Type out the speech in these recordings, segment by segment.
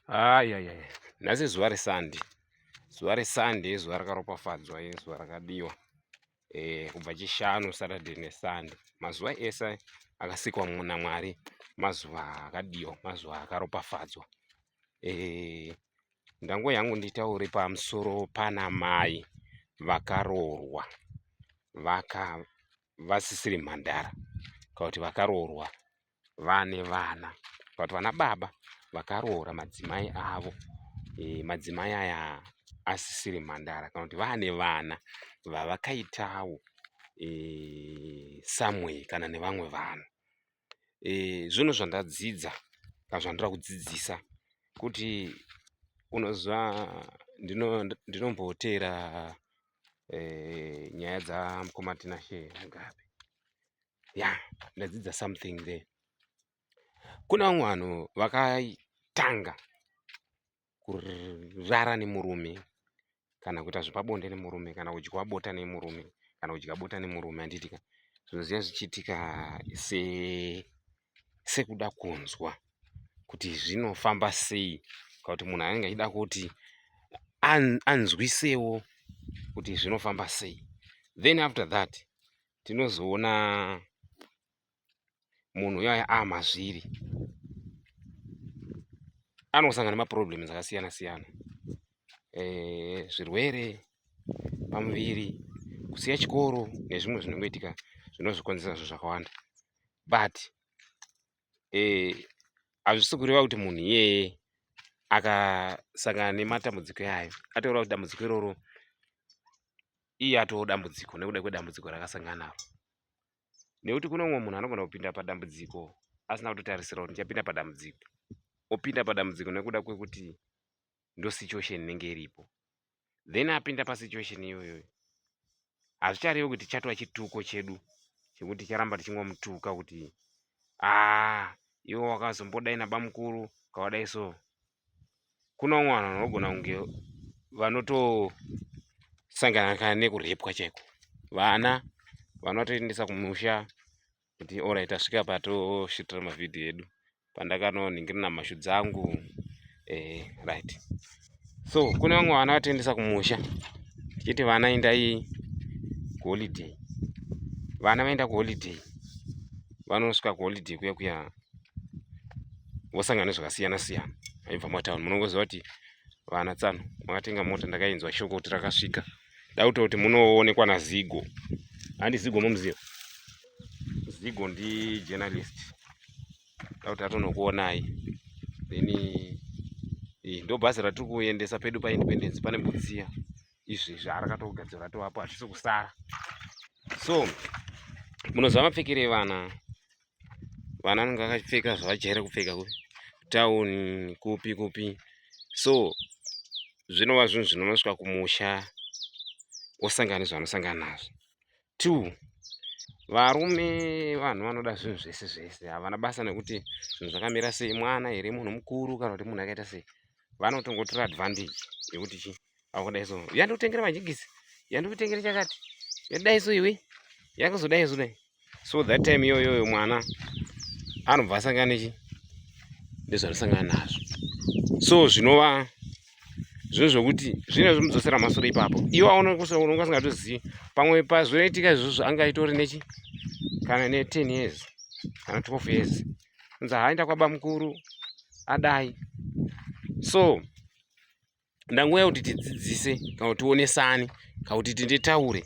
ayaya nhasi zuva resande zuva resande zuva rakaropafadzwa iri zuva rakadiwa eh, kubva chishanu saturday nesande mazuva ese akasikwa namwari mazuva akadiwa mazuva akaropafadzwa eh, ndango yangu nditaure pamusoro pana mai vakaroorwa vaka vasisiri mhandara kana kuti vakaroorwa vane vana but vana baba vakaroora madzimai avo e, madzimai aya asisiri mhandara kana kuti vane vana vavakaitawo e, eh, someway kana nevamwe vanhu e, eh, zvinhu zvandadzidza kana zvandoda kudzidzisa kuti unoziva ndinomboteera ndino e, nyaya dzamukoma tinashe mugabe ya yeah, ndadzidza something there kuna vamwe vanhu vakatanga kurara nemurume kana kuita zvepabonde nemurume kana kudya bota nemurume kana kudya bota nemurume handitika zvinoziva zvichiitika se sekuda kunzwa kuti zvinofamba sei ka kuti munhu anenge achida kuti anzwisewo kuti zvinofamba sei then after that tinozoona munhu uyo ava mazviri anosangana nemaproblems akasiyana siyana eh, zvirwere pamuviri kusiya chikoro nezvimwe zvinongoitika zvinozvikonzera zvo zvakawanda but eh, hazvisi kureva kuti munhu iyeye akasangana nematambudziko yayo ataura kuti dambudziko iroro iye atoo dambudziko nekuda kwedambudziko rakasangana naro nekuti kune umwe munhu anogona kupinda padambudziko asina kutotarisira kuti ndichapinda padambudziko opinda padambudziko nekuda kwekuti ndosituation inenge iripo then apinda pasituation iyoyo hazvicharevi kuti chatova chituko chedu chekuti ticharamba tichingomutuka kuti aa ah, iwe wakazombodaina bamukuru kawadai so kuno mwana vanogona kunge vanotosangana kana nekurepwa chaiko vana vanotoendesa kumusha kuti orit tasvika patosvitira mavhidhiyo edu pandakanoningiri namashu dzangu eh, right so kune vamwe vana vatoendesa kumusha tichiti vana indai kuholiday vana vaenda kuholiday vanosvika kuholiday kuya kuya vosangana nezvakasiyana siyana aibva mumatown munongoziva kuti vana tsano makatenga mota ndakainzwa shoko kuti rakasvika dauta kuti munoonekwa nazigo handi zigo momuziva zigo ndi journalist dauti atonokuonai then eh, ndo bhazi ratiri kuendesa pedu paindependence pane butsiya izvi zvarakatogadzira ratovapo hatisi kusara so munoziva mapfekere vana vana vanenge vakapfeka zvavajaira kupfeka kupi town kupi kupi so zvinova zvinhu zvinonosvika kumusha osangana nezvanosangana nazvo two varume vanhu vanoda zvinhu zvese zvese havana basa nekuti zvinhu zvakamira sei mwana here munhu mukuru kana kuti munhu akaita sei vanotongotora advantage yekuti chii akudai so yandikutengera majigisi yandikutengera chakati yadai so iwe yakazodai so dai so that time iyoyoyo mwana anobva asangana nechi ndezvanosangana nazvo so zvinova zvinhu zvokuti zvine zvomudzosera masoro ipapo iwo aunonga asingatozivi pamwe pazvinoitika izvozvo anga aitori nechi kana ne10 years kana 12 years nzi haaenda kwabamukuru adai so ndangouya kuti tidzidzise kana kuti tionesane kana kuti tinditaure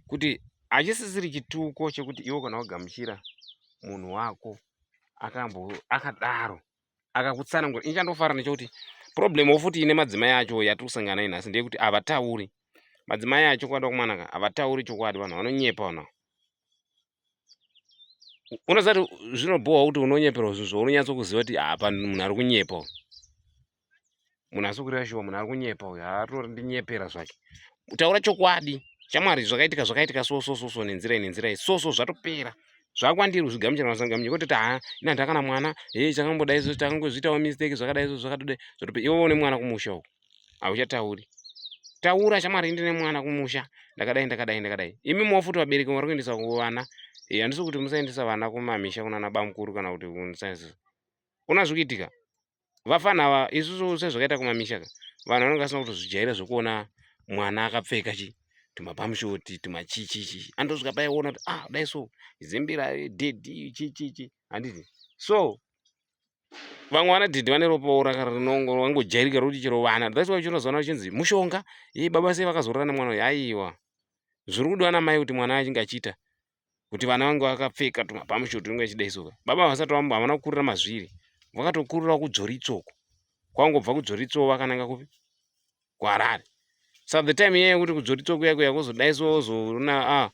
kuti hachisisiri chituko chekuti iwo kana wagamuchira munhu wako akambo akadaro akakutsanangura ini chandofara nechokuti problem wofuti ine madzimai acho yatiri kusangana nayo nhasi ndeyekuti havatauri madzimai acho kwada kumanaka havatauri chokwadi vanhu vanonyepa vanhu unoziva kuti zvinobhohwa kuti unonyeperwa zvinhu zvaunonyatso kuziva kuti hapa munhu ari kunyepa munhu asi kureva shuwa munhu ari kunyepa uyu haatori ndinyepera zvake taura chokwadi chamwari zvakaitika zvakaitika so so so so nenzira iyi nenzira iyi so so zvatopera zvakwandiri kuzvigamuchira masangamunyiko toti haa ina ndakana mwana hei chakamboda izvo takangozviitawo mistake zvakada izvo zvakatode zvatope iwe une mwana kumusha uku hauchatauri taura chamwari ndine mwana kumusha ndakadai ndakadai ndakadai imi mofuti vabereki vari kuendesa kuvana eh, handisi kuti musaendesa vana kumamisha kunana bamukuru kana kuti kunsaizi una zvikuitika vafana ava isusu sezvakaita kumamisha ka vanhu vanenge vasina kutozvijaira zvekuona mwana akapfeka chi tumapamshoti tumachichichi anotosvika paiona kuti ah dai so zimbira dhedhi chichichi handiti so vamwe vana dhedhi vane ropaora rinongojairika rokuti chero vana thats why uchinozoona uchinzi mushonga ye baba sei vakazorora nemwana uyu aiwa zviri kudiwa namai kuti mwana achinge achiita kuti vana vange vakapfeka tumabhamushu tunenge chidai so baba havasati vambo havana kukurira mazviri vakatokurira kudzoritsoko kwangobva kudzoritsoko vakananga kupi kuharare sa the time iyeyo kuti kudzoritsoko yako yakuzodai so ozoona a ah,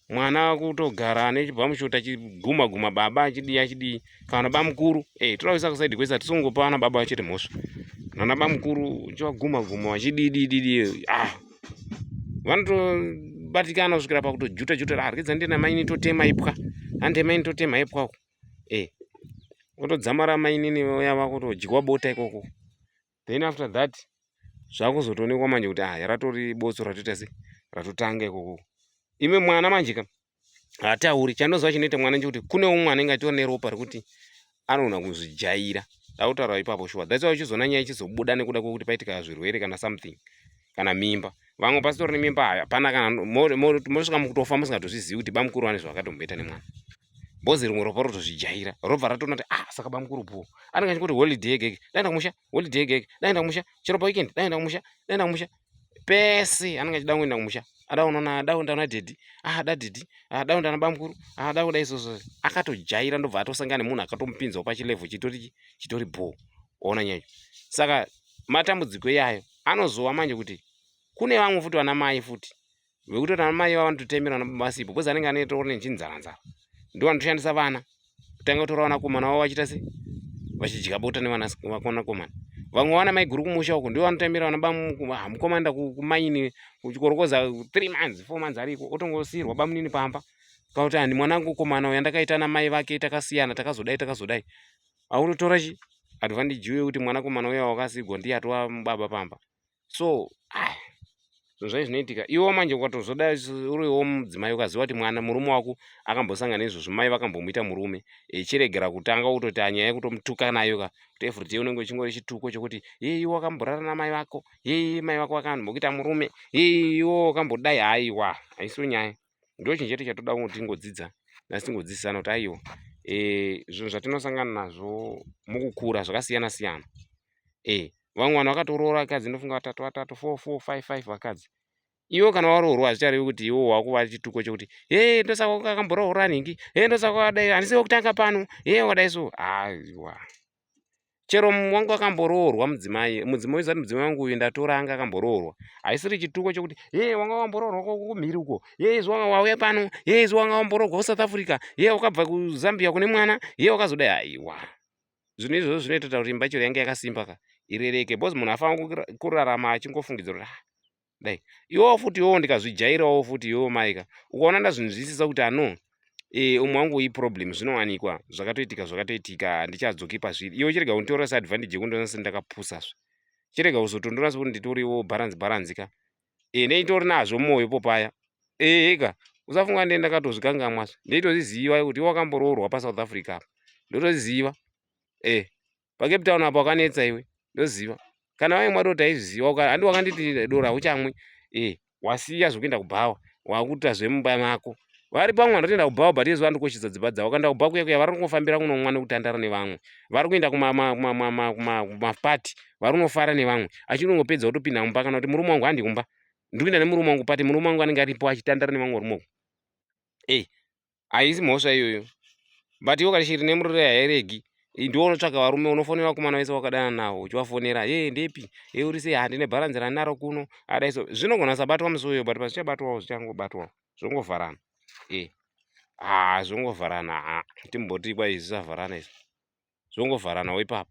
mwana kutogara ane chibhamushu tachiguma guma baba achidii achidii kana bamukuru eh toda kuisa kusaidi kwese tisungopa ana baba chete mhosva nana bamukuru chivaguma guma vachididididi ah vanotobatikana kusvikira pakutojuta juta ah rikidza ndina maini totema ipwa hande maini totema ipwa ku eh otodzamara mainini vaya vakutodyiwa bota ikoko then after that zvakuzotoonekwa manje kuti ah ratori botso ratoita se ratotanga ikoko ime mwana manje ka hatauri chandoziva chinoita mwana nje kuti kune umwe anenge achiona neropa rekuti anogona kuzvijaira dautaura ipapo shuwa that's why uchizoona nyaya ichizobuda nekuda kwekuti paitika zvirwere kana something kana mimba vamwe pasitori nemimba hapana kana mosvika mukutofa musingatozvizivi kuti bamukuru vane zvavakatomboita nemwana bhozi rimwe ropa rotozvijaira robva ratoona kuti ah saka bamukuru bho anenge achingoti holiday yege yege daenda kumusha holiday yege yege daenda kumusha chero paweekend daenda kumusha daenda kumusha pese anenge achida kuenda kumusha ada unoona ada kuenda kuna dhedhi ah da dhedhi ah da kuenda nabamukuru ah da kuda isoso akatojaira ndobva atosangana nemunhu akatomupinzawo pachilevo chitori chitori bho ona nyaya saka matambudziko iyayo anozowa manje kuti kune vamwe futi vana mai futi vekuti ana mai vavo vanototemerwa nabasipo bcause anenge anoitawo nechinzanza ndo vanotoshandisa vana kutanga kutora vanakomana vavo vachiita se vachidya bota nevanakomana vamwe vana mai guru kumusha uko ndivo vanotemera vana bamukomanda ah, kumaini kuchikorokoza three months four months ariko otongosiyirwa bamunini pamba kana kuti handi mwana wangu komana uya ndakaita na mai vake takasiyana takazodai takazodai autotora chi advantage uye kuti mwanakomana uya wakasigwa ndiye atova baba pamba so ah, zvinhu zvai zvinoitika iwo manje ukatozoda uriwo mudzimai ukaziva kuti mwana murume wako akambosangana izvozvo mai vakambomuita murume echiregera kutanga utoti anyaya yekutomutuka nayo ka kuti everyday unenge uchingori chituko chokuti yei iwo akamborara namai vako yei mai vako vakambokuita murume yei iwo wakambodai haiwa haisiwo nyaya ndochinhu chete chatoda kuti tingodzidza nasi tingodzidzisana kuti aiwa e, zvinhu zvatinosangana nazvo mukukura zvakasiyana siyana e, vamwe vanhu vakatoroora vakadzi ndofunga vatatu vatatu four four five five vakadzi iwo kana waroorwa hazvicharevi kuti iwo wakuva chituko chekuti he ndosaka wakamboroora ningi he ndosaka wadai handisi wekutanga pano he wadai so aiwa ah, chero wangu akamboroorwa mudzimai mudzimai zati mudzimai wangu uyu ndatora anga akamboroorwa haisiri chituko chokuti hee wanga wamboroorwa kumhiri uko hee izvo wanga wauya pano hee izvo wanga wamboroorwa kusouth africa hee wakabva kuzambia kune mwana hee wakazoda haiwa zvinhu izvozvo zvinoitota kuti imba chero yange yakasimba ka irereke bcause munhu afanira kurarama achingofungidzira kuti ah, dai iwowo futi iwowo ndikazvijairawo futi iwowo maika ukaona ndazvinzwisisa kuti ano e, umwe wangu uyi problem zvinowanikwa zvakatoitika zvakatoitika handichadzoki pazviri iwe chirega kunditorera seadvantage yekundiona seni ndakapusa zve chirega kuzotondora sekuti nditoriwo balance balance ka e, neitori nazvo mwoyo po paya ehe ka usafunga ndee ndakatozvikangamwa zve ndeitozviziva kuti iwe wakamboroorwa pasouth africa apa ndotozviziva e. pacape town apo wakanetsa iwe ndoziva kana waye mwato taizviziva handi wakanditi dora uchamwe e eh, wasiya zvekuenda kubhawa wakuita zvemumba mako vari pamwe vanotoenda kubhawa but yezuva ndikoshidza dzimba dzavo kanda kubhawa kuya kuya vari kungofambira kunomwa nekutandara nevamwe vari kuenda kumapati vari kunofara nevamwe achinongopedza kutopinda mumba kana kuti murume wangu handi kumba ndikuenda nemurume wangu pati murume wangu anenge aripo achitandara nevamwe varume uku e eh, haisi mhosva iyoyo but iwo kashiri nemurure hairegi ndiwo unotsvaga varume unofonera vakomana vese wakadana nawo uchivafonera ye ndepi e uri sei handine bharanzi ranaro kuno adai so zvinogona sabatwa musi uyo but pazvichabatwawo zvichangobatwawo zvongovharana e haa zvongovharana haa timbotii kwai zvisavharana izvi zvongovharanawo ipapo